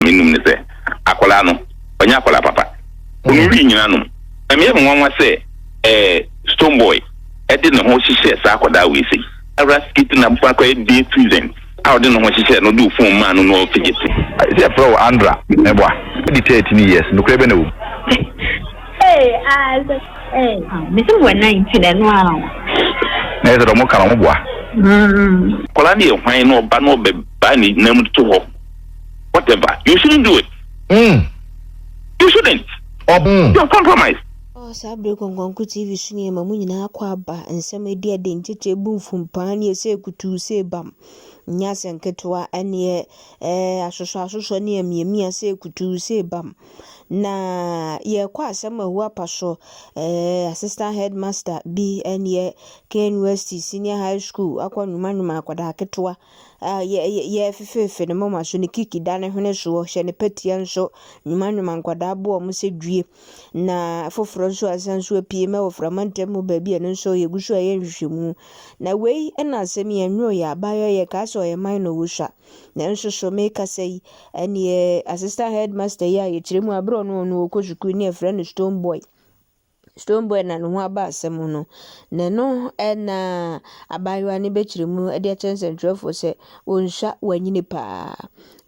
m'anom ne sɛ, Akwadaa no, ɔnyɛ akwadaa papa. Onwiri nyinaa nom. Ɛmyɛ me nwanwa sɛ ɛɛ Stonebwoy de ne ho hyehyɛɛ saa akwadaa wei sei. Ara skit na abofra koraa yɛ day present a ɔde ne ho hyehyɛɛ no, ɔde ofon maa no na ɔfegyete. Sɛ yɛfrɛ wo Andra mɛboa. Adi thirteen years nokorɛ bɛ na wɔ mu. Na yɛsɛ dɛ ɔmo ka na ɔmo boa. Akwadaa no yɛ hwan na ɔba na ɔbɛba ne nan mu toto hɔ. whatever you shouldn't do it mm. you shouldn't Ob mm. you're compromised. Oh, saa bere kɔnkɔnko TV so nneɛma mu nyinaa akɔ aba, nsɛm adi ade, nkyekyɛ ebu mfumpaa ne ɛsɛ kutuu sɛ bam. Nyɛ asɛ nketewa ne ɛ, ɛ asosɔ asosɔ ne amiamia sɛ kutuu sɛ bam. Na yɛkɔ asɛm ahu apa so, ɛ assistant headmaster bi ne ɛ Kane West Senior High School akɔ nwoma nwoma akwadaa ketewa. Ah, yɛ, yɛ, yɛ fefeefe ne moma so, ne kiki da ne hwene soɔ, hyɛ ne patia nso, nwuma nwuma nkwadaa boɔ wɔn sɛ dwie. Na foforɔ nso asan so apue mɛ wɔ frama ntam mu baabi a ɛno nso yɛgu so ɛyɛ nhwehwɛmu. Na wei na asɛm yi ɛnwoo yɛ abaayɔ yɛ kaa sɛ ɔyɛ mine na ɔwɔ sua. Nanso so me kasa yi, ɛneɛ assistant headmaster yi a yɛkyerɛ mu a berɛ ɔno ɔno ɔkɔ sukuu ne yɛfrɛ no stone boy. Stonebwoy na ne ho aba asɛm ho no, na ɛno na abaayewa no bɛkyerɛ mu de akyerɛ nsɛntwerɛfoɔ sɛ, Onsua, wanyini paa.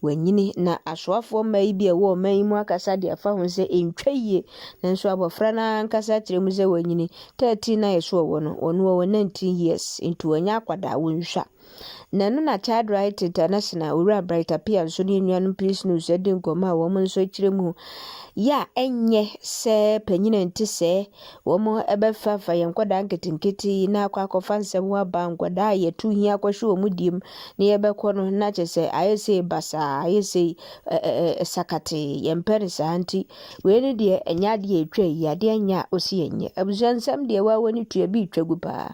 Wanyini. Na asoafoɔ mmaa yi bi a ɛwɔ ɔman yi mu akasa de afa ho sɛ ɛntwa yie, nanso abɔfra no ankasa akyerɛ mu sɛ wanyini. Thirteen na yɛse ɔwɔ no, ɔno ɔwɔ nineteen years, nti ɔnyɛ akwadaa, onsua. Na ɛno na Child Rights International Owura Bright Appiah nso ne enuanom Peace News adi nkɔmmɔ a wɔn nso kyerɛ mu yɛ a ɛnyɛ sɛ panyin a ɛnte sɛɛ wɔn bɛfafa yɛn nkwadaa nketenkete yi na akɔ akɔfa nsɛm ho aba nkwadaa a yɛtu hia kɔhwe wɔn diem na yɛbɛkɔ no na kyɛ sɛ ayɛ sɛ basaa ayɛ sɛ sakate yɛmpɛ no saa nti wei ne deɛ ɛnyɛ adeɛ ɛtwa yi adeɛ nyɛ a ɔsi ɛnyɛ abusua nsɛm deɛ wɔawɔ ne tua bi retwa gu paa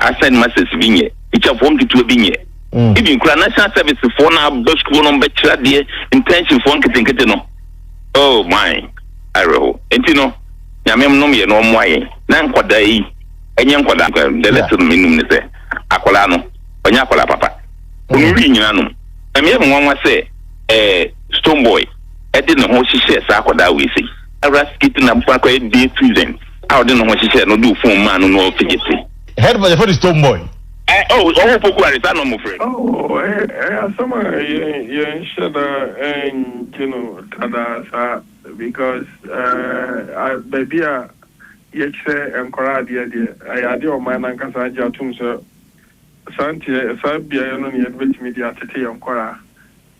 Assigned masters bi nyɛ, tikyafoɔ nketewa bi nyɛ, even koraa national service foɔ no a aba sukuu hɔ no bɛkyerɛ adeɛ, internship foɔ nketenkete no, oh my, awerɛho. Nti no, Nyame nnom yɛn na ɔmmoa yɛn na nkwadaa yi nyɛ nkwadaa nko, the lesson me nim ne sɛ, akwadaa no ɔnyɛ akwadaa papa, ɔnum wii nyinaa nom. Ɛmyɛ me nwanwa sɛ eh, Stonebwoy de ne ho hyehyɛɛ saa akwadaa wei sei. Ara skit no abofra koraa yɛ day student. a ɔde ne ho hyehyɛɛ no de ofon maa no no ɔfi Gypsy. Head boy yɛfrɛ no Stone Boy. Eh oh ɔwɔ poku are saa na ɔmo frɛ. Oh ɛyɛ ɛyɛ asɛm a yɛn yɛn hyɛ da ɛngye no dada saa because eh ah baabi a yɛkyerɛ nkwadaa adeɛ deɛ ɛyɛ adeɛ a ɔman no ankasa agye atom sɛ saa nteɛ saa beaeɛ no na yɛde bɛtumi de atete yɛn nkwadaa.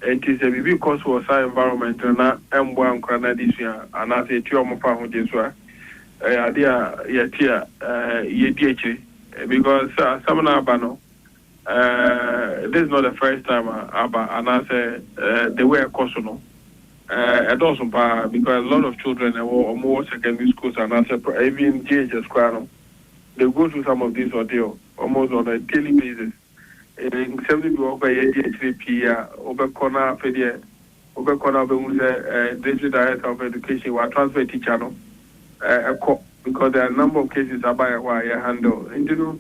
Enti sɛ biribi kɔ so wɔ saa environment no na ɛmmoa nkwadaa no adesua anaasɛ ɛtua wɔn fa ho gye so a, ɛyɛ adeɛ a yɛte a yɛdi akyire because asɛm no aba no, this is not the first time a aba anaasɛ the way a ɛkɔ so no, ɛdɔɔso pa ara because a lot of children a ɛwɔ, wɔwɔ secondary schools anaasɛ even JHS koraa no, they go through some of this ordeal almost on a daily basis. Nsɛm no bi wɔ hɔ koraa a yɛadi akyire pii a wobɛkɔ na afei deɛ wobɛkɔ na wobɛhu sɛ District Director of Education wa transfer teacher no kɔ because there are number of cases aba yɛn hɔ a yɛ handle nti no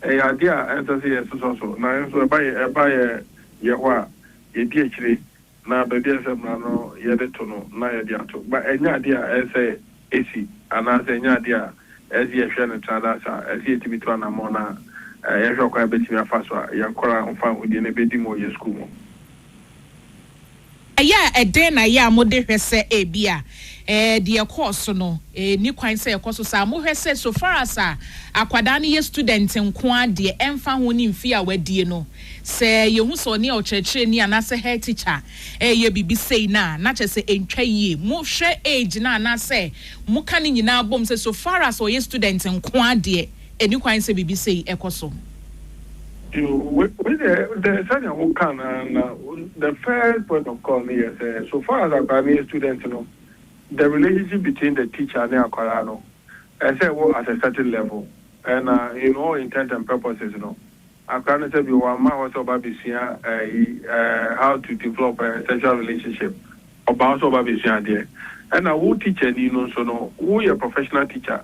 ɛyɛ adeɛ a ɛnsɛ sɛ yɛsosɔ so nanso ɛba yɛn ɛba yɛn yɛn hɔ a yɛdi akyire. na baabi a ɛsɛ sɛ mmara no yɛ de to no na yɛde ato, ma ɛnyɛ ade a ɛsɛ sɛ esi anaasɛ ɛnyɛ ade a ɛsɛ sɛ yɛhwɛ no tra daa saa. Ɛsɛ sɛ yetumi tu anammɔn na yɛhwɛ ɔkwan a yebetumi afa so a yɛn nkwadaa ahofa ahude no bedi mu wɔ yɛn sukuu mu. Ɛyɛ a ɛdɛn na ɛyɛ a mode hwɛ sɛ ebia deɛ ɛkɔɔ so no nni kwan sɛ ɛkɔ so saa? Mohwɛ sɛ so far as a akwadaa no yɛ student nko ara deɛ, ɛmfa ho ne mfie a wadie no, Sɛ yehu sɛ ɔne ɔkyerɛkyerɛni anaasɛ head teacher reyɛ biribi sei no a, na kyerɛ sɛ ɛntwa yie. Mohwɛ age no a anaasɛ moka ne nyinaa bom sɛ so far as ɔyɛ student nko ara deɛ, ɛnni kwan sɛ biribi sei kɔ so. Yoo, wei deɛ sɛdeɛ wokaa no ara na the first point of call no yɛ sɛ so far as akwadaa no yɛ student no, the relationship between the teacher ne akwadaa no, ɛsɛ sɛ ɛwɔ at a certain level. Ɛna in all intent and purposes no, Akora no sɛ bi wɔamma hɔ sɛ ɔba abɛsua ayi how to develop a sexual relationship, ɔba hɔ sɛ ɔba abɛsua adeɛ. Ɛna wo tikyani no nso no, woyɛ professional teacher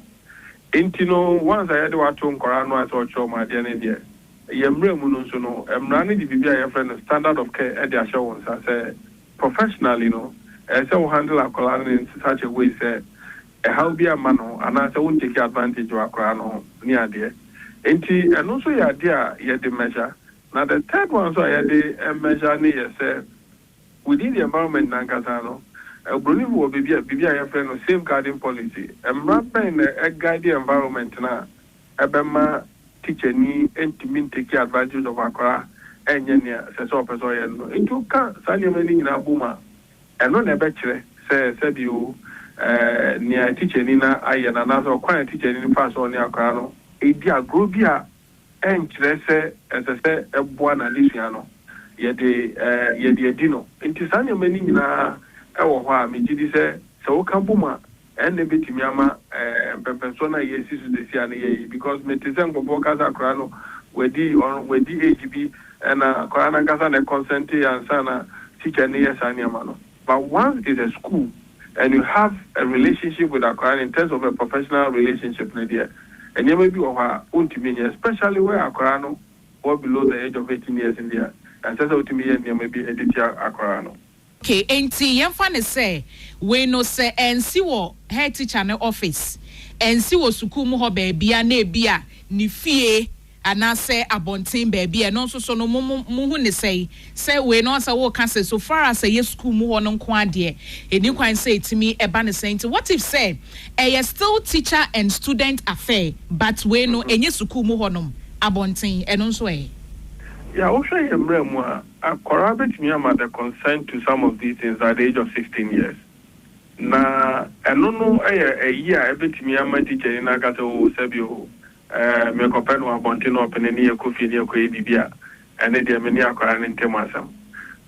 nti no once a yɛde wo ato nkwadaa ano a sɛ ɔkyerɛ wɔn adeɛ no deɛ, yɛn mmara mu no nso no, mmara no de biribi a yɛfrɛ no standard of care de ahyɛ wo nsa sɛ professionally no, ɛsɛ sɛ wo handle akwadaa no in such a way sɛ ɛhaw bi amma no ho anaasɛ wo ntake advantage wa koraa no ho ne adeɛ nti ɛno nso yɛ adeɛ a yɛde measure na the third one nso a yɛde measure ne yɛ sɛ within the environment no ankasa no broni fo wɔ baabi a biribi a yɛfrɛ no safe guarding policy mmra bɛn na ɛ guide environment no a ɛbɛma teacher ni ntumi ntake advantage of akwadaa ɛnyɛ nea ɛsɛ sɛ ɔpɛ sɛ ɔyɛ no no nti wo ka saa nneɛma no nyinaa bom a Ɛno na ɛbɛkyerɛ sɛ sɛbi o, nea tikyani no ayɛ no anaasɛ ɔkwan a tikyani no fa so a ɔne akwadaa no redi agorɔ bi a ɛnkyerɛ sɛ ɛsɛ sɛ ɛboa n'adesua no, yɛde yɛde adi no. Enti saa nneɛma no nyinaa wɔ hɔ a, megye di sɛ, sɛ woka bom a, Ɛnna ebetumi ama mpɛmpɛnsoɔ no a yɛresi so seesei a no yɛ yie because mete sɛ nkurɔfoɔ ka sɛ akwadaa no wadi ɔno wadi age bi ɛnna akwadaa no ankasa na consente ansa na teacher no yɛ saa nneɛma no but once it's a school and you have a relationship with akwadaa no in terms of a professional relationship no deɛ nneɛma bi wɔ hɔ a wontumi nyɛ especially where akwadaa no fall below the age of eighteen years no deɛ ɛnsɛ sɛ wotumi yɛ nneɛma bi de tia akwadaa no. Ok, enti yɛmfa no sɛ wei no sɛ ansi wɔ head teacher no office, ansi wɔ sukuu mu hɔ baabia na ebia ne fie anaasɛ abɔnten baabi a, ɛno nso so no mo mo mohu ne sɛn? Sɛ wei no sɛ woka sɛ so far as ɛyɛ sukuu mu hɔ no nko ara deɛ ɛni kwan sɛ ɛtumi ɛba no saa nti what if sɛ ɛyɛ still teacher and student affair but wei no ɛnyɛ sukuu mu hɔnom, abɔnten, ɛno nso ɛ? Yeah, wohwɛ yɛn mmara mu a, Akwadaa bɛtumi ama the consent to some of these things at the age of sixteen years, na ɛno no yɛ ayi a ɛbɛtumi ama tikyani no aka sɛ oo sɛbi oo merekɔpɛ no wɔ abɔnten na ɔpene ne yɛkɔ fie ne yɛkɔyɛ biribi a, ɛne deɛ me ne akwadaa no ntam asɛm.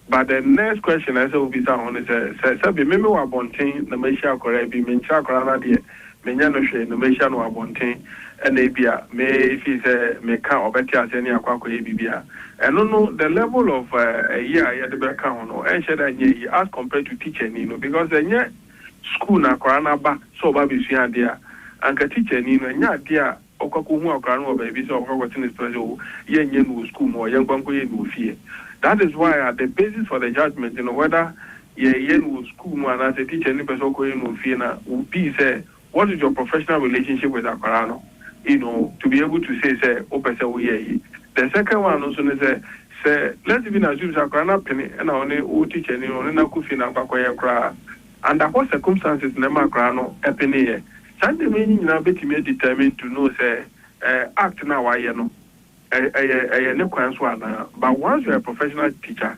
But the next question a ɛsɛ sɛ wobisa ho ne sɛ, sɛ sɛbi me mewɔ abɔnten na mahyia akwadaa bi, menkyerɛ akwadaa no adeɛ, menya no hwɛ na mahyia no wɔ abɔnten na ebia me feel sɛ me ka ɔbɛte aseɛ ne yɛakɔ akɔyɛ biribi a, ɛno no the level of ɛyi a yɛde bɛka ho no ɛnhyɛ da nyɛ yie as compared to teacher ni no because ɛnyɛ school na akwadaa no aba sɛ ɔba abɛsua adeɛ a anka teacher ni no ɛnyɛ adeɛ a Ɔkɔ akɔhu akwadaa no wɔ baabi sɛ ɔkɔ akɔte ne stress o, yɛnyɛ no wɔ sukuu mu o, yɛnkɔ nkɔyɛ no wɔ fie. That is why a the basis for the judgement no whether yɛyɛ no wɔ sukuu mu anaasɛ teacher no pɛ sɛ ɔkɔyɛ no wɔ fie no will be sɛ what is your professional relationship with akwadaa no you know to be able to say sɛ wopɛ sɛ woyɛ eyi. The second one no nso ne sɛ, sɛ let's even assume sɛ akwadaa no apene ɛna ɔne wo teacher ni no ɔne no akɔ fie na akɔ akɔyɛ koraa a, under what circumstances na ɛma akwadaa no peneeɛ? Saa nneɛma yi no nyinaa bɛtumi adetermine to know sɛ act no a wayɛ no ɛyɛ ɛyɛ ne kwan so anaa but once you are a professional teacher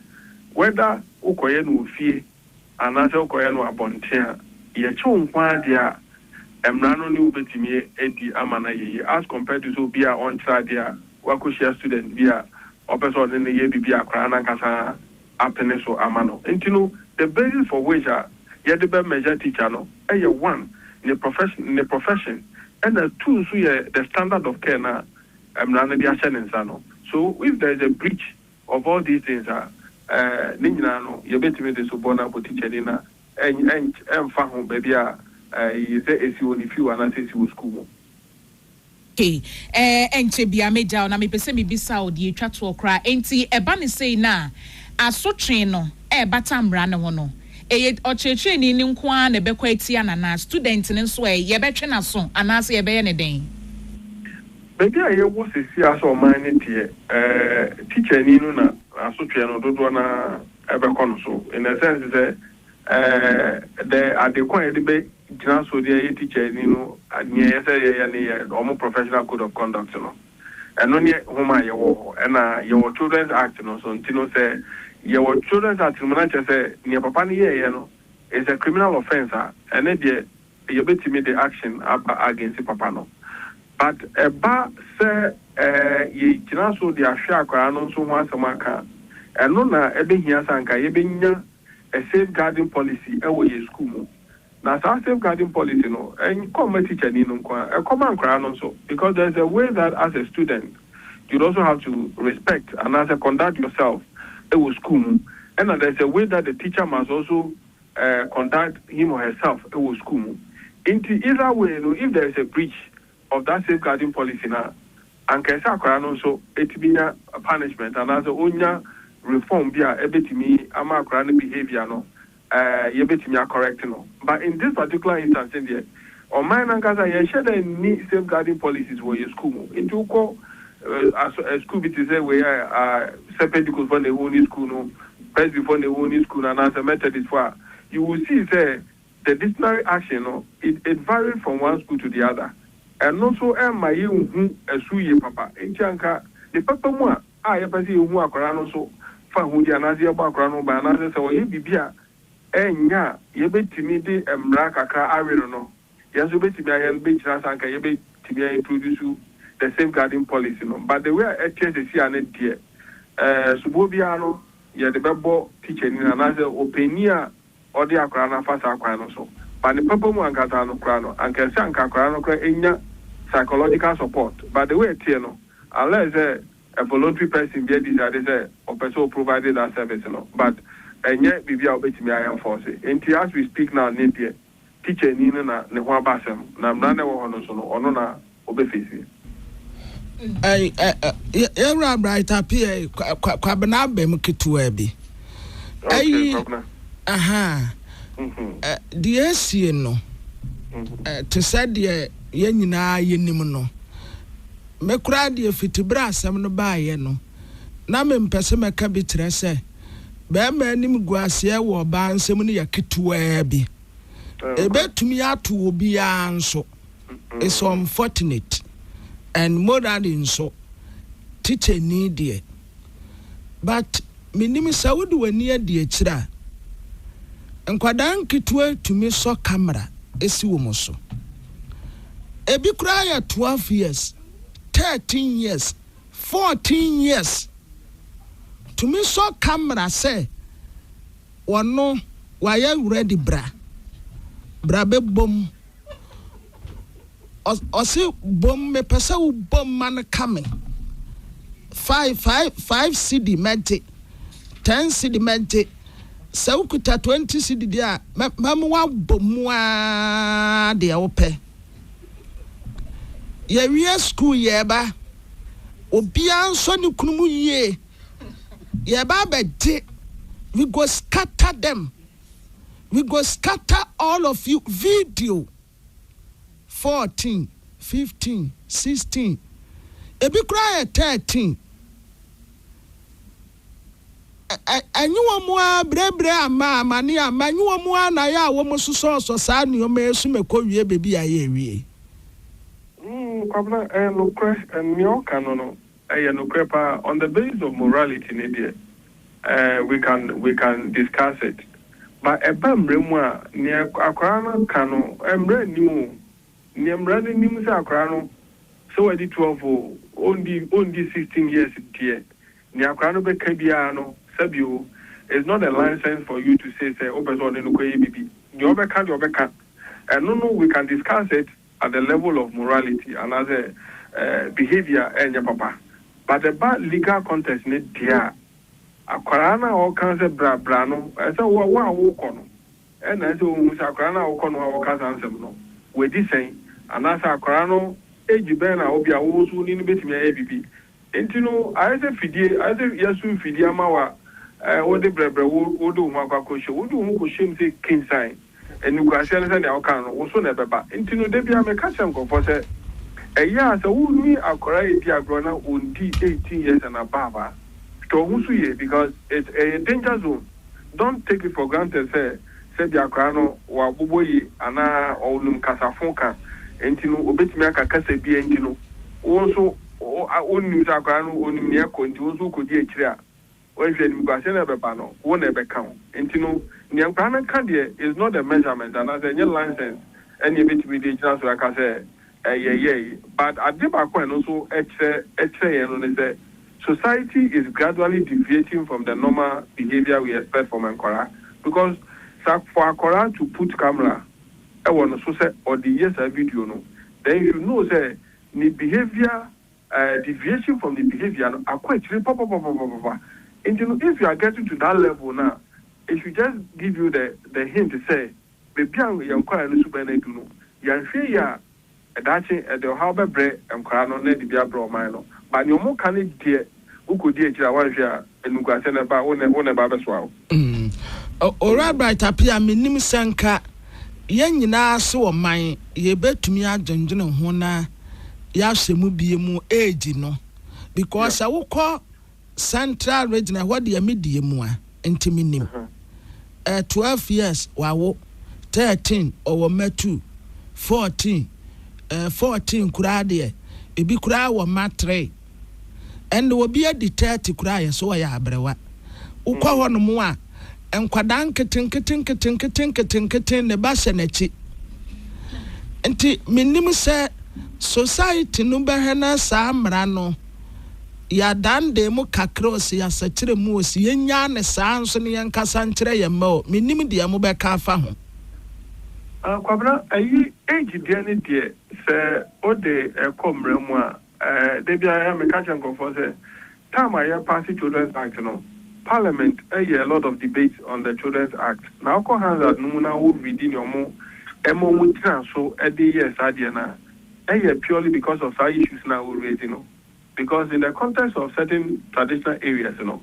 whether wokɔyɛ no wɔ fie anaasɛ wokɔyɛ no abɔnten a yɛkye wo nko ara deɛ a mmara no ne wo bɛtumi adi ama no ayɛ yie as compared to sɛ obi a ɔnkyerɛ adeɛ a wakɔhyia student bi a ɔpɛ sɛ ɔne no yɛ biribi a akwadaa no ankasa apene so ama no. Nti no, the basis for which a yɛde bɛ measure teacher no yɛ one, ne profession ne profession, ɛna two nso yɛ the standard of care no a mmara no de ahyɛ ne nsa no. So if there is a breach of all these things a, eh, ne nyinaa no yɛbɛtumi de so bɔ no abɔ teachani no a, ɛn ɛnky ɛmfa ho baabi a eh, sɛ ɛsi wɔ ne fie o anaasɛ ɛsi wɔ sukuu mu. Hey, ɛɛ, ɛnkyɛ biara mɛgya wo, na mepɛ sɛ mebisa wo deɛ ɛtwa toɔ koraa, enti ɛba no sei no a, asotwee no ɛrebata mmara no ho no, ɛyɛ ɔkyerɛkyerɛni no nko ara na ɛbɛkɔ atia no anaa student no nso ɛ, yɛbɛtwe no aso anaasɛ yɛbɛyɛ no dɛn? Baabi a yɛwɔ seesei ara sɛ ɔman no teɛ, ɛɛ, tikyani no na asotwee no dodoɔ no ara bɛkɔ no so, in a sense sɛ, ɛɛ, dɛ, ade ko a yɛde bɛ. Gyina so de ɛyɛ tikyani no nea ɛyɛ sɛ yɛyɛ no yɛ wɔn professional code of conduct no. Ɛno ne home a yɛwɔ hɔ. Ɛna yɛwɔ children's act no nso nti no sɛ yɛwɔ children's act no mu na kyerɛ sɛ nea papa no yɛeɛ no is a criminal offence a ɛne deɛ yɛbɛtumi de action aba against papa no. But ɛba sɛ ɛɛ yɛgyina so de ahwɛ akwadaa no nso ho asɛm aka a, ɛno na ɛbɛhia sɛ anka yɛbɛnya a safeguarding policy wɔ yɛn sukuu mu. Na saa safe guarding policy no nkɔ mma teacher ni no nko ara, ɛkɔ ma nkwadaa no nso because there is a way that as a student you'd also have to respect anaasɛ conduct yourself wɔ school mu ɛna there is a way that the teacher must also eh, conduct him or herself wɔ school mu. Nti either way no if there is a breach of that safe guarding policy no a, anka ɛsɛ akwadaa no nso tumi nya punishment anaasɛ ɔnya reform bi a ɛbɛtumi ama akwadaa no behaviour no eh, yɛbɛtumi a correct no, but in this particular instance no deɛ, ɔman no ankasa yɛnhyɛ da nni safeguarding policies wɔ yɛn sukuu mu, nti wokɔ eh, as, eh, sukuu bi te sɛ wei a, ah, sɛ Pentecostfoɔ na ɛwɔ mu ne sukuu no, Presbyfoɔ na ɛwɔ mu ne sukuu no, anaasɛ Methodistfoɔ a, you will see sɛ the disciplinary action no, it, it varied from one school to the other, ɛno nso ɛmma yɛnhu ɛso yie papa, nti anka ne papa mu a, a yɛpɛ sɛ yehu akwadaa no so fa ahude anaasɛ yɛbɔ akwadaa no ho ban anaasɛ sɛ ɔyɛ biribi a ɛnyɛ a yebetumi de mmara kakra awe no no, yɛn nso yebetumi ayɛ no bɛkyerɛ ansa anka yebetumi a introduce the safeguarding policy no. But the way a ɛteɛ seesei a no deɛ, ɛɛ, soboɔ biara no yɛde bɛbɔ tikyani no anaasɛ ɔpanyin a ɔde akwadaa no afa saa kwan no so. But ne papa mu ankasa no koraa no anka ɛsɛ anka akwadaa no koraa nya psychological support but the way ɛteɛ no unless sɛ a voluntary person bi adecide sɛ ɔpɛ sɛ ɔ provide that service no but ɛnyɛ biribi a wobɛtumi a enforce. Nti as we speak now ne deɛ. Tikyani no na ne ho aba asɛm na mmara na ɛwɔ hɔ no nso no ɔno na ɔbɛ feesi. Yɛwura Bright Appiah yi, Kwabena abam ketewaa bi. Ayi, aha, deɛ asie no, te sɛ deɛ yɛn nyinaa yɛnim no. Me koraa deɛ fiti berɛ asɛm no baeɛ no, na mempɛ sɛ mɛka bi kyerɛ sɛ barima animguaseɛ wɔ ɔbaa nsam no yɛ ketewaa bi. Ɛbɛtumi ato obiara nso. It's unfortunate. And morally nso, tikyani deɛ. But menim sɛ wode w'ani adi akyire a, nkwadaa nketewa tumi sɔ camera si wɔn so. Ɛbi koraa yɛ 12 years, 13 years. Fourteen years tumi sɔ camera sɛ wɔno wayɛ ready bra bra bɛ bom ɔse bom mepɛ sɛ wo bom ma no ka me five five five cedi mɛgye ten cedi mɛgye sɛ wo kuta twenty cedi deɛ a mɛ mɛmo wa bom mu aa deɛ wo pɛ. Yɛwie sukuu yɛreba, obiara nsɔ ne kunu mu yie, yɛreba abɛgye, we go scatter them, we go scatter all of you video, fourteen, fifteen, sixteen, ebi koraa yɛ thirteen. Enye wɔn ara brɛbrɛ ama amane ama, enye wɔn ara na ayɛ a wɔsosɔɔsɔ saa nnoɔma yi so ma ɛkɔwie baabi a ayɛ awie. Mm Kwabena ɛyɛ nokorɛ nea ɔka no no ɛyɛ nokorɛ paa on the basis of morality no deɛ eh we can we can discuss it but ɛba mmara mu a nea akwadaa no ka no mmara nnim o nea mmara no nim sɛ akwadaa no sɛ wadi twelve o ɔndi ɔndi sixteen years deɛ Nea akwadaa no bɛka biara no, sɛbio, is not a license for you to say sɛ wopɛ sɛ ɔne no kɔyɛ biribi. Deɛ ɔbɛka deɛ ɔbɛka, ɛno no we can discuss it at the level of morality anaasɛ behaviour a ɛnyɛ papa. But ɛba legal context no deɛ a, akwadaa no a ɔka sɛ bra bra no, ɛsɛ sɛ wo a wokɔ no na ɛsɛ sɛ wohu sɛ akwadaa no a wokɔ no a ɔka saa nsɛm no, wadi sɛn anaasɛ akwadaa no age bɛn na ebia wo nso wo ne no bɛtumi ayɛ biribi. Enti no, ayɛ sɛ fidie, ayɛ sɛ yɛaso mfidie ama wo a, ɛɛ, wode brɛbrɛ, wo, wode wo ho akɔ akɔhyem. Wode wo ho kɔhyem sɛ kensan animguaseɛ no sɛdeɛ woka no no, wo so na ɛbɛba. Enti no, da biara meka kyerɛ nkurɔfoɔ sɛ, ɛyɛ a sɛ wone akwadaa redi agorɔ na ɔnndi eighteen years and above a, hwɛ wo ho so yie because it's, ɛyɛ danger zone. Don't take it for granted sɛ sɛ bi akwadaa no wabobɔ yie anaa ɔnim kasafo ka nti no obetumi aka kasa bi nti no wo nso wonnim sɛ akwadaa no onim nea ɛkɔ nti wo nso wokɔdi akyire a wanhwɛ animguaseɛ na ɛbɛba no wo na ɛbɛka wo nti no nea nkwadaa no ka deɛ is not the measurement anaasɛ ɛnyɛ license ɛne ɛbɛtumi de gyina so ɛka sɛ yɛyɛe. But ade baako a ɛno nso kyerɛ kyerɛ yɛn no ne sɛ, society is gradually deviating from the normal behaviour we expect from nkwadaa. Because sɛ for akwadaa to put camera wɔ ne so sɛ ɔde reyɛ saa video no, then you should know sɛ ne behaviour eh, deviation from ne behaviour no akɔ akyire papapapapapa. Nti no if you are getting to that level no a, it should just give you the the hint sɛ, Baabi a yɛn nkwadaa no suban adu no, yɛanhwɛ yie a, daakye ɛde ɔhaw bɛbrɛ nkwadaa no na ɛde bi abrɛ ɔman no. Ba nea wɔka no deɛ, wokɔdi akyire a, woanhwɛ a, animguaseɛ na ɛba, wo na ɛba abɛsoa wo. Owura Bright Appiah, mennim sɛ nka yɛn nyinaa se ɔman yɛbɛtumi adwendwene ho na yɛahyɛ mu bio mu age no because sɛ wokɔ Central region ɛhɔ deɛ me die mu a nti me nim eh, twelve years wawo, thirteen ɔwɔ mma two, fourteen eh, fourteen koraa deɛ ebi koraa wɔ mma three ɛnna obi adi thirty koraa yɛ so ɔyɛ abrewa wokɔ hɔ nom a nkwadaa nketenkete nketenkete nketenkete ne ba hyɛ n'akyi nti me nim sɛ society no bɛhwɛ na saa mmara no. Yɛadaandaa mu kakra ɔse yɛasakyera mu ɔse yɛnnyaa no saa nso na yɛnkasa nkyerɛ yɛn mma o. Mennim deɛ mobɛka afa ho. Ah Kwabena ayi age deɛ ne deɛ sɛ wode ɛkɔ mmara mu a eh da biara meka kyerɛ nkurɔfoɔ sɛ time a yɛ pass children's act no parliament yɛ a lot of debate on the children's act na wokɔ Hansard no mu na wo readi nea ɔmo ɛma ɔmo gyina so de yɛɛ saa deɛ no a ɛyɛ purely because of saa issues no a wo raise no because in the context of certain traditional areas no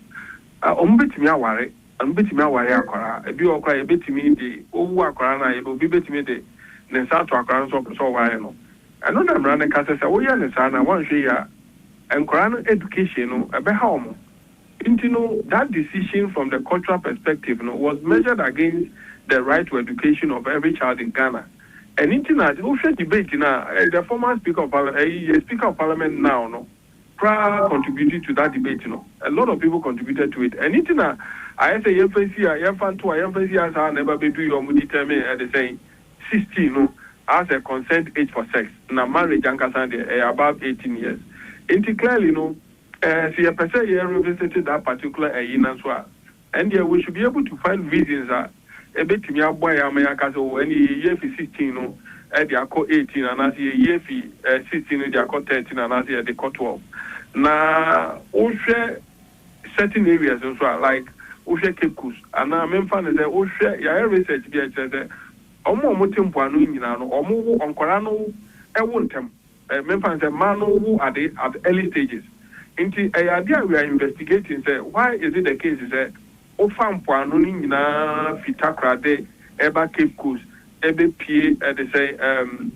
wɔn bɛtumi aware wɔn bɛtumi aware akwadaa ebi wɔ hɔ koraa yɛbɛtumi de wowu akwadaa no a yɛbɛ obi bɛtumi de ne nsa ato akwadaa no so ɔpɛ sɛ ɔware no ɛno na mmara no ka sɛ sɛ woyɛ no saa no a woanhwɛ yie a nkwadaa no education no ɛbɛha wɔn. Nti no that decision from the cultural perspective no was measured against the right to education of every child in Ghana. Ɛno nti na wo hwɛ debate no a the former speaker of parliament, ɛyi yɛ speaker of parliament now no koraa contributed to that debate no. A lot of people contributed to it. Ɛno nti na ayɛ sɛ yɛmfa nsi a yɛmfa nto a yɛmfa nsi a saa na ɛba bɛduru yɛ wɔn determine ɛde sɛn 16 no as a consent age for sex na marriage ankasa deɛ ɛyɛ above 18 years. Nti clearly no Eh se yɛpɛ sɛ yɛ revisite that particular ayi no nso a, ɛndeɛ we should be able to find reasons a ɛbɛtumi aboa yɛ ama yɛaka sɛ oh ɛndeɛ yɛyi afi sixteen no de akɔ eighteen anaasɛ yɛyi afi eh sixteen no de akɔ thirteen anaasɛ yɛde kɔ twelve. Na wohwɛ certain areas nso a like wohwɛ Cape Coast anaa memfa no sɛ wohwɛ yɛayɛ research bi a ɛkyerɛ sɛ wɔn a wɔte mpoano nyinaa no wɔn wo nkwadaa no wo ntɛm. Memfa no sɛ mmaa no wo ade at early stages nti ɛyɛ adeɛ a we are investigating sɛ why is it the case sɛ wofa mpoano no nyinaa fi Takorade ɛba Cape Coast ɛbɛpue ɛdesɛn ɛɛm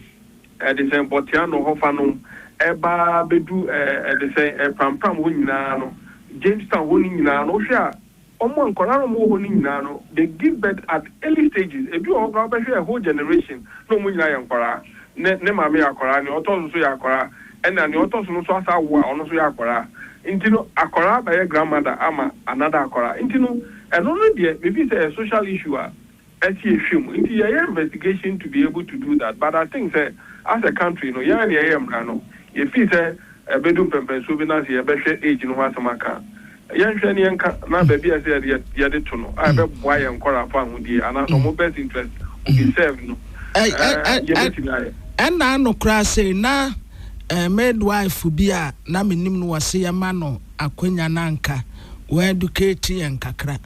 ɛdesɛn Bɔtiano hɔ fa nom ɛba bɛdu ɛɛ ɛdesɛn ɛɛ Prampram hɔ nyinaa no Jamestown hɔ no nyinaa no wohwɛ a Wɔn a nkwadaa na wɔwɔ hɔ no nyinaa no, they give birth at early stages. Ebi wɔ hɔ koraa wobɛhwɛ a whole generation na wɔn nyinaa yɛ nkwadaa. Ne ne maame yɛ akwadaa, nea ɔtɔ so nso yɛ akwadaa, ɛna nea ɔtɔ so no nso asan awo a ɔno nso yɛ akwadaa. Nti no akwadaa bɛyɛ grandmother ama another akwadaa. Nti no ɛno no deɛ me feel sɛ ɛyɛ social issue a akyi ɛhwɛ mu nti yɛyɛ investigation to be able to do that but I think sɛ as a country no yɛn a na yɛyɛ mmara no yɛ feel sɛ ɛbɛdu mpɛmpɛnsoɔ bi no ase yɛbɛhwɛ age no ho asɛm aka yɛnhwɛ ne yɛnka na baabi a ɛsɛ yɛde yɛde to no a ɛbɛboa yɛn nkɔraa fo ahodie anaasɛ ɔmo best interest will be served no ɛɛ yɛbɛtumi ayɛ. Ɛnna ano koraa sei na eh, midwife bi a na menim no wɔ se yɛma no akwanya no anka wɔ educate yɛn kakra.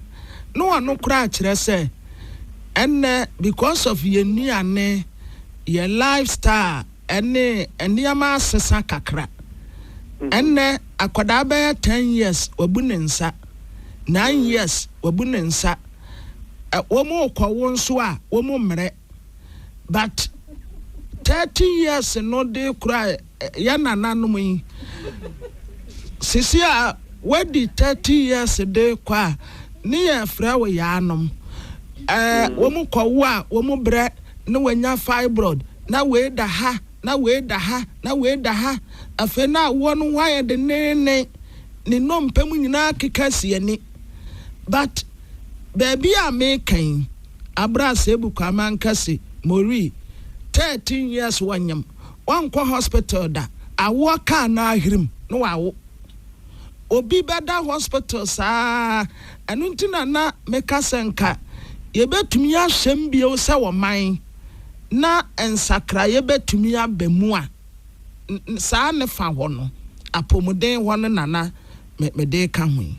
ne ɔno koraa kyerɛ sɛ ɛnnɛ because of yɛn nnuane, yɛn lifestyle ne nneɛma asesa kakra. Ɛnnɛ akwadaa bɛyɛ ten years wabu ne nsa, nine years wabu ne nsa. Wɔrekɔwo nso a wɔmmrɛ. but thirty years no de kura yɛ nananom yi sisi a wadi thirty years de kɔ a ne yɛ frɛ wo yaanom ɛɛ wɔn kɔ wo a wɔn brɛ ne wɔnya fibroid na wei da ha na wei da ha na wei da ha afei na awoɔ no ho ayɛ dennennen ne nnompe mu nyinaa keka si ani but baabi a meka yi. Aber a Sebu Kwaaman kã se, Moree, thirteen years wɔ nyem, ɔnnkɔ hospital da, awoɔ kaa n'ahirim na ɔawo. Obi bɛda hospital saa ara, ɛno nti na na meka sɛ nka yɛbɛtumi ahyɛm bio sɛ ɔman na nsakraeɛ bɛtumi aba mu a, saa ne fa hɔ no, apomuden hɔ no na na mede reka ho yi.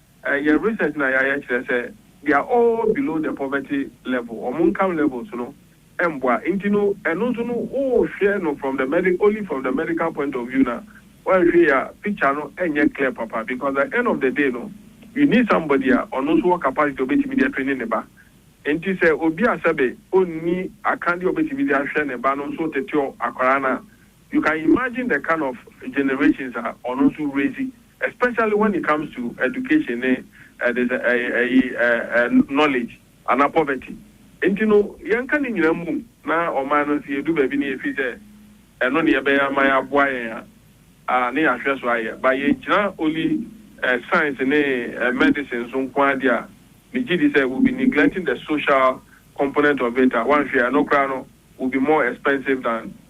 Yɛn research no a yɛayɛ kyerɛ sɛ they are all below the poverty level, wɔn income levels no mboa. Nti no ɛno nso no wohwɛ no from the medic only from the medical point of view no a, woanhwɛ yie a picture no nyɛ clear papa because at the end of the day no you need somebody a ɔno nso wɔ capacity a ɔbɛtumi de atraining ne ba. Nti sɛ obi a sɛbe ɔnni akadeɛ a ɔbɛtumi de ahwɛ ne ba no nso teteɔ akwadaa no a, You can imagine the kind of generations a ɔno nso raise especially when it comes to education ne ɛdis ɛyi ɛyi ɛɛ knowledge anaa poverty nti no yɛnka ne nyinaa mmom na ɔman no nso yɛdu baabi na yɛfiri sɛ ɛno na yɛbɛyɛ ama yɛaboa yɛn a a ne yɛahwɛ so ayɛ but yɛgyina only ɛɛ science ne ɛɛ medicine so nko ara deɛ a megye di sɛ we'll be neglecting the social component of it a woanhwɛ a ɛno koraa no will be more expensive than